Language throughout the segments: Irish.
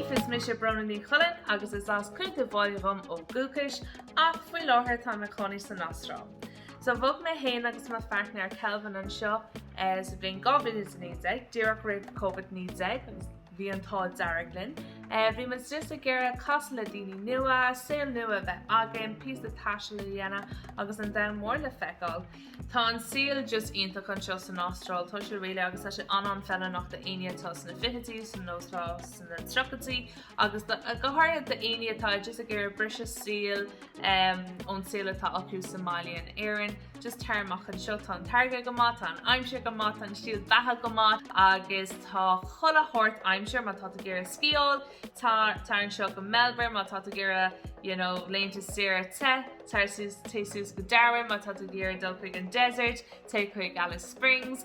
Daoibh, is mise Bronagh Ní Chuilinn agus is as Coillte Mach dhom ó dhúchas ach faoi láthair táim i mo chónaí san Astráil. So bhog mé féin agus mo phairtnéir Kelvin anseo sa bhliain 2019, díreach roimh Covid-19 agus Bhí an t-ádh dearg linn. Bhí muid just ag iarraidh casadh le daoine nua, saol nua a bheith againn, píosa taistil a dhéanamh agus an domhan mór le feiceáil. Tá an saol just iontach anseo san Astráil, tá sé réidh agus tá sé an-an-feileannach do éinne atá sna fichidí nó atá sna tríochaidí agus go háirithe do éinne atá just ag iarraidh briseadh saoil, ón saol atá acu sa mbaile in Éirinn. Just tar amach anseo, tá an t-airgead go maith, tá an aimsir go maith, tá an stíl beatha go maith agus tá chuile shórt aimsire má tá tú ag iarraidh sciáil, tar anseo go Melbourne má tá tú ag iarraidh you know laethanta saoire te, téigh suas go Darwin má tá tú ag iarraidh dul chuig an desert, téigh chuig Alice Springs.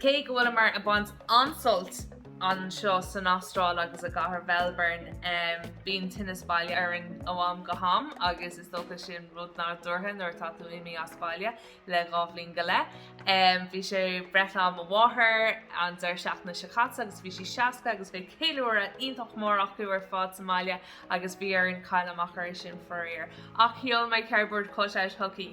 Cé go bhfuil muid ag baint an-sult anseo san Astráil agus i gcathair Mhelbourne, bíonn tinneas baile orainn ó am go ham agus is dócha sin rud nádúrtha nuair atá tú imithe as baile le dhá bhliain go leith. Bhí sé breithlá ar mo mháthair an deireadh seachtaine seo caite agus bhí sí 60 agus bhí ceiliúradh iontach mór acu ar fad sa mbaile agus bhí orainn cailleadh amach air sin faraor. Ach sheol mé cardboard cut-out chuici.